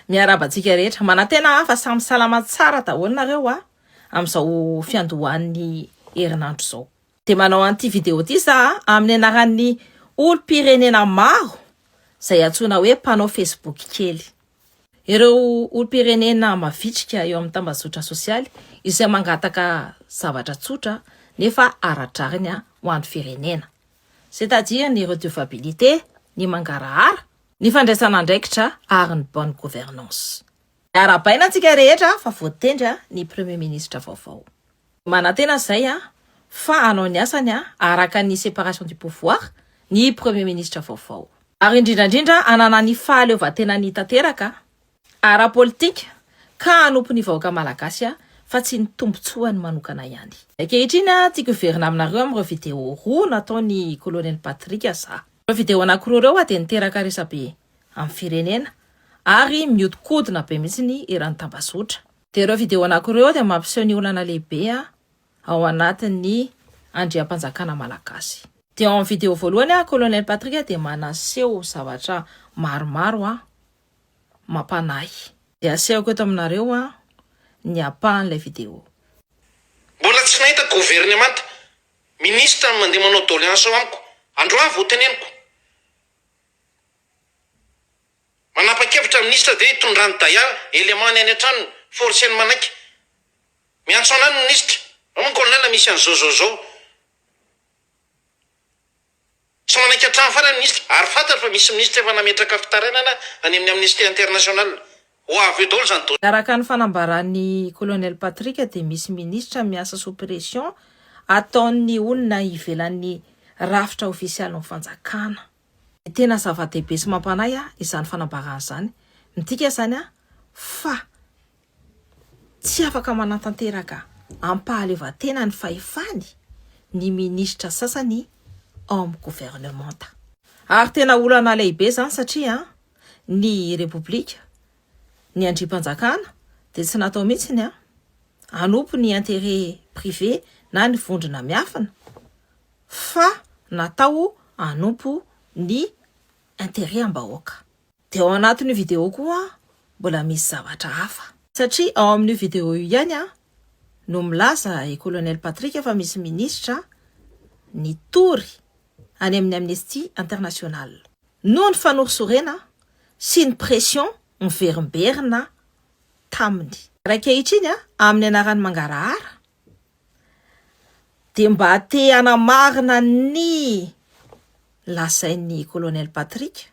Miarahaba antsika rehetra. Manantena aho fa samy salama tsara daholo nareo a, amin'izao fiandohan'ny herinandro izao. Dia manao an'ity video ity za amin'ny anaran'ny olom-pirenena maro izay antsoina hoe mpanao Facebook kely. Ireo olom-pirenena mavitrika eo amin'ny tambazotra sosialy izay mangataka zavatra tsotra nefa ara-drariny ho an'ny firenena. C'est-à-dire ny redevabilité, ny mangarahara, ny fandraisana andraikitra ary ny bonne gouvernance. Arahabaina antsika rehetra fa voatendry ny Premier Ministre vaovao. Manantena izay fa hanao ny asany araka ny séparation du pouvoir ny Premier Ministre vaovao. Ary indrindra indrindra hanana ny fahaleovantenany tanteraka ara-politika ka hanompo ny vahoaka malagasy aho fa tsy ny tombotsoany manokana ihany. Ankehitriny tiako hiverina aminareo amin'ireo video roa nataon'i Colonel Patrick Azah. Ireo video anankiroa ireo dia niteraka resabe amin'ny firenena ary mihodinkodina be mihitsy ny eran'ny tambazotra. Dia ireo video anankiroa ireo dia mampiseho ny olana lehibe ao anatin'ny andriampanjakana malagasy. Dia ao amin'ny video voalohany Colonel Patrick dia manaseho zavatra maromaro aho. mampanahy. Dia asehoko eto aminareo ny apahan'ilay video. Mbola tsy nahita governemanta, ministra no mandeha manao doléance ao amiko, androany vao teneniko. Manapa-kevitra ny ministra dia hitondrany dayar, élément-ny any an-tranony, forcer-ny manaiky. Miantso anay ny ministra, ao ny colonel misy an'izao zao zao. Tsy manaiky hatrany farany ny minisitra ary fantatro fa misy minisitra efa nametraka fitarainana any amin'ny Amnesty International. Ho avy eo daholo izany dossier. Araka ny fanambaran'ny Colonel Patrick dia misy minisitra miasa sous pression ataon'ny olona ivelan'ny rafitra ofisialin'ny fanjakana. Dia tena zava-dehibe sy mampanahy ahy izany fanambarana izany. Midika izany fa. Tsy afaka manatanteraka am-pahaleovantena ny fahefany ny minisitra sasany ao amin'ny governemanta. Ary tena olana lehibe izany satria ny Repoblika, ny andrimpanjakana dia tsy natao mihitsy ny hanompo ny intérêt privé na ny vondrona miafina fa natao hanompo ny intérêt am-bahoaka. Dia ao anatin'io video koa mbola misy zavatra hafa. Satria ao amin'io video io ihany no milaza i Colonel Patrick fa misy minisitra nitory any amin'ny Amnesty International. Noho ny fanorisorena sy ny pression miverimberina taminy. Ary ankehitriny amin'ny anaran'ny mangarahara dia mba te hanamarina ny lazain'i Colonel Patrick.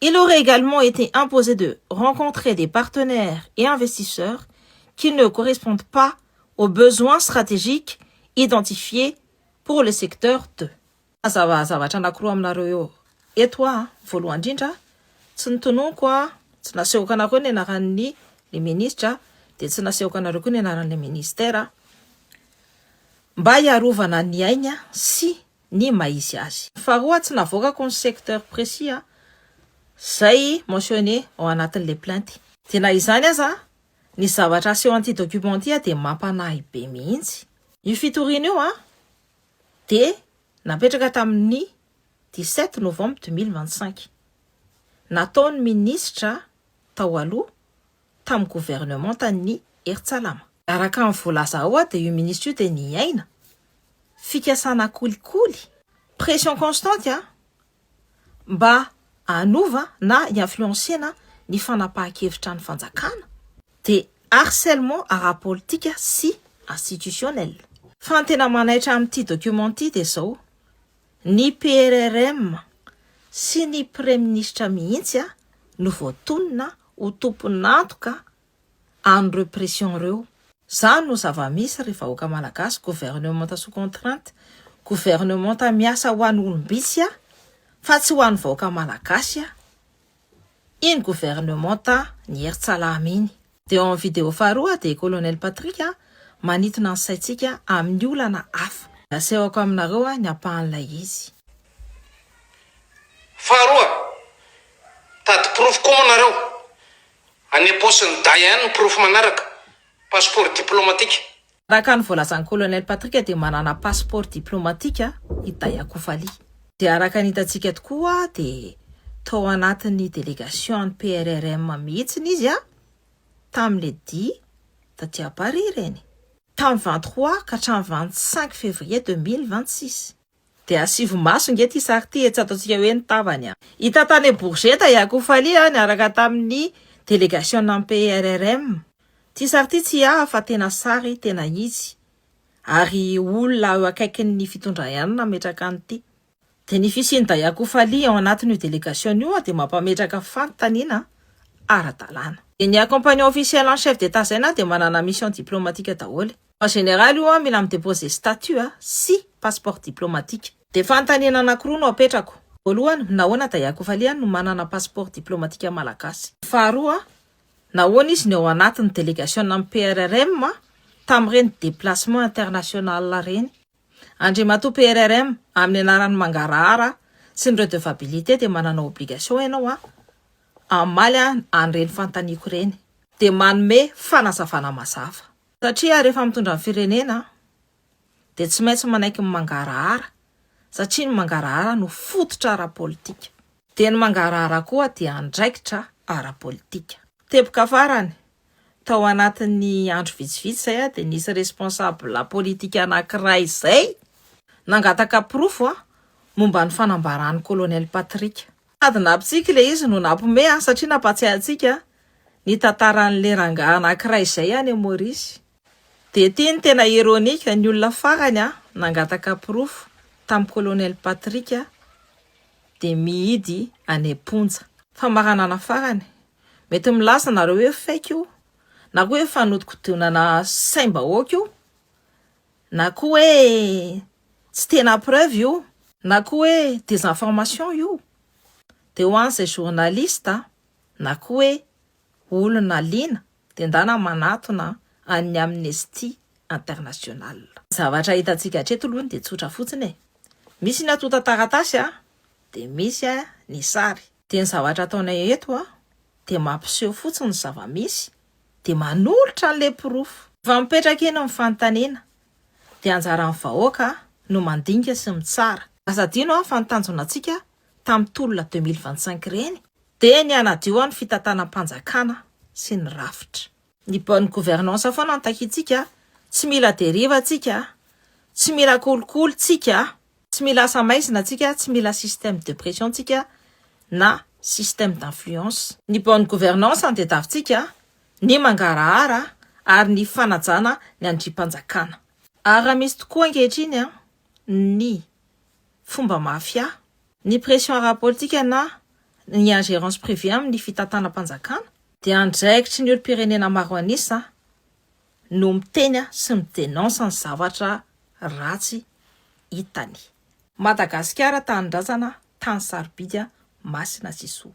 Il aurait également été imposé de rencontrer des partenaires et investisseurs qui ne correspondent pas aux besoins stratégiques identifiés pour le secteur de. Mazava zavatra anakiroa aminareo eo eto aho, voalohany indrindra tsy notononiko a, tsy nasehoko anareo ny anaran'ny le ministra dia tsy nasehoko anareo koa ny anaran'ilay ministera mba hiarovana ny ainy sy ny maha izy azy. Faharoa, tsy navoakako ny secteur précis a, zay mentionné ao anatin'ilay plainte. Dia na izany aza, ny zavatra aseho an'ity document ity a, dia mampanahy be mihitsy. Io fitoriana io a, dia napetraka tamin'ny dix sept novembre deux mille vingt cinq. Nataon'ny minisitra tao aloha. tamin'ny governemantan'ny Herintsalama. Araka ny voalaza ao dia io minisitra io dia niaina fikasana kolikoly, pression constante mba hanova na hi-influencer-na ny fanapahan-kevitra ny fanjakana dia harcèlement ara-politika sy institutionnel. Fa ny tena manaitra amin'ity document ity dia izao, Ny PRRM sy ny Praiminisitra mihitsy no voatonona ho tompon'antoka an'ireo pression ireo. Izany no zava-misy ry vahoaka Malagasy, gouvernementa sous contrainte, gouvernementa miasa ho an'ny olom-bitsy fa tsy ho an'ny vahoaka Malagasy iny gouvernementa ny Hery Tsalama iny. Dia ao amin'ny video faharoa dia Colonel Patrick manintona ny saintsika amin'ny olana hafa. Asehoko aminareo ny ampahan'ilay izy. Faharoa, Mitady porofo koa moa nareo? Any am-paosin'i Dayan ny porofo manaraka, passeport diplomatique. Araka ny voalazan'ny Colonel Patrick dia manana passeport diplomatique i Day Akufali. Dia araka ny hitantsika tokoa dia tao anatin'ny délégation an'ny PRRM mihitsiny izy tamin'ny le dia taty à Paris ireny. Tamin'ny vingt trois ka hatramin'ny vingt cinq février deux mille vingt six. Dia asivo maso nge ty sary ty e tsy ataontsika hoe ny tavany a. Hita tany Bourget i Akoho Fally a niaraka tamin'ny delegasionan'ny PRRM. Ty sary ty tsy ahy fa tena sary tena izy ary olona eo akaikin'ny fitondra ihany nametraka an'ity. Dia ny fisian'i Dahy Akoho Fally ao anatin'io delegasion io dia mampametraka fanontaniana ara-dalàna. Ny accompagnant officiel en chef d'Etat zay na dia manana mission diplomatique daholo e. En général io an, mila mi-deposer statut a, sy passeport diplomatique. Dia fanontaniana anankiroa no apetrako. Voalohany, nahoana Daya Kofalian no manana passeport diplomatique malagasy? Faharoa, nahoana izy no ao anatin'ny delegationan'ny PRRM tamin'ireny déplacement international ireny? Andriamatoa PRRM, amin'ny anaran'ny mangarahara sy ny redevabilité dia manana obligation ianao an, hamaly an an'ireny fanontaniako ireny. Dia manome fanazavana mazava. Satria rehefa mitondra ny firenena dia tsy maintsy manaiky ny mangarahara satria ny mangarahara no fototra ara-politika. Dia ny mangarahara koa dia andraikitra ara-politika. Teboka farany, tao anatin'ny andro vitsivitsy izay aho dia nisy responsable politika anankiray izay nangataka porofo momba ny fanambaran'i Colonel Patrick. Sady nampitsiky ilay izy no nampiomehy aho satria nampahatsiahy antsika ny tantaran'ilay rangahy anankiray izay any Maurice. Dia ity no tena ironique, ny olona farany nangataka porofo tamin'i Colonel Patrick dia mihidy any am-ponja. Famaranana farany, mety milaza ianareo hoe fake io na koa hoe fanodinkodinana saim-bahoaka io Na koa hoe tsy tena preuve io. Na koa hoe desinformation io. Dia ho an'izay journaliste na koa hoe olona liana dia ndana manatona an'ny Amnesty International. Ny zavatra hitantsika hatreto aloha dia tsotra fotsiny e. Misy ny antontan-taratasy dia misy ny sary. Dia ny zavatra ataonay eto an, dia mampiseho fotsiny ny zava-misy, dia manolotra an'ilay porofo. Fa mipetraka eny ny fanontaniana, dia anjaran'ny vahoaka no mandinika sy mitsara. Aza adino an, fa ny tanjona antsika tamin'ny tolona deux mille vingt-cinq ireny, dia ny hanadio an ny fitantanam-panjakana sy ny rafitra. Ny bonne gouvernance foana no takintsika, tsy mila deriva tsika, tsy mila kolikoly tsika, tsy mila asa maizina tsika, tsy mila système de pression tsika na système d'influence. Ny bonne gouvernance no tedavitsika, ny mangarahara ary ny fanajana ny andrimpanjakana. Ary raha misy tokoa ankehitriny ny fomba mafia Ny pression ara-politika na ny ingérence privée amin' ny fitantanam-panjakana dia andraikitry ny olom-pirenena maro an'isa no miteny sy mi denonce ny zavatra ratsy hitan'i. Madagasikara tanindrazana tany sarobidy masina sy soa.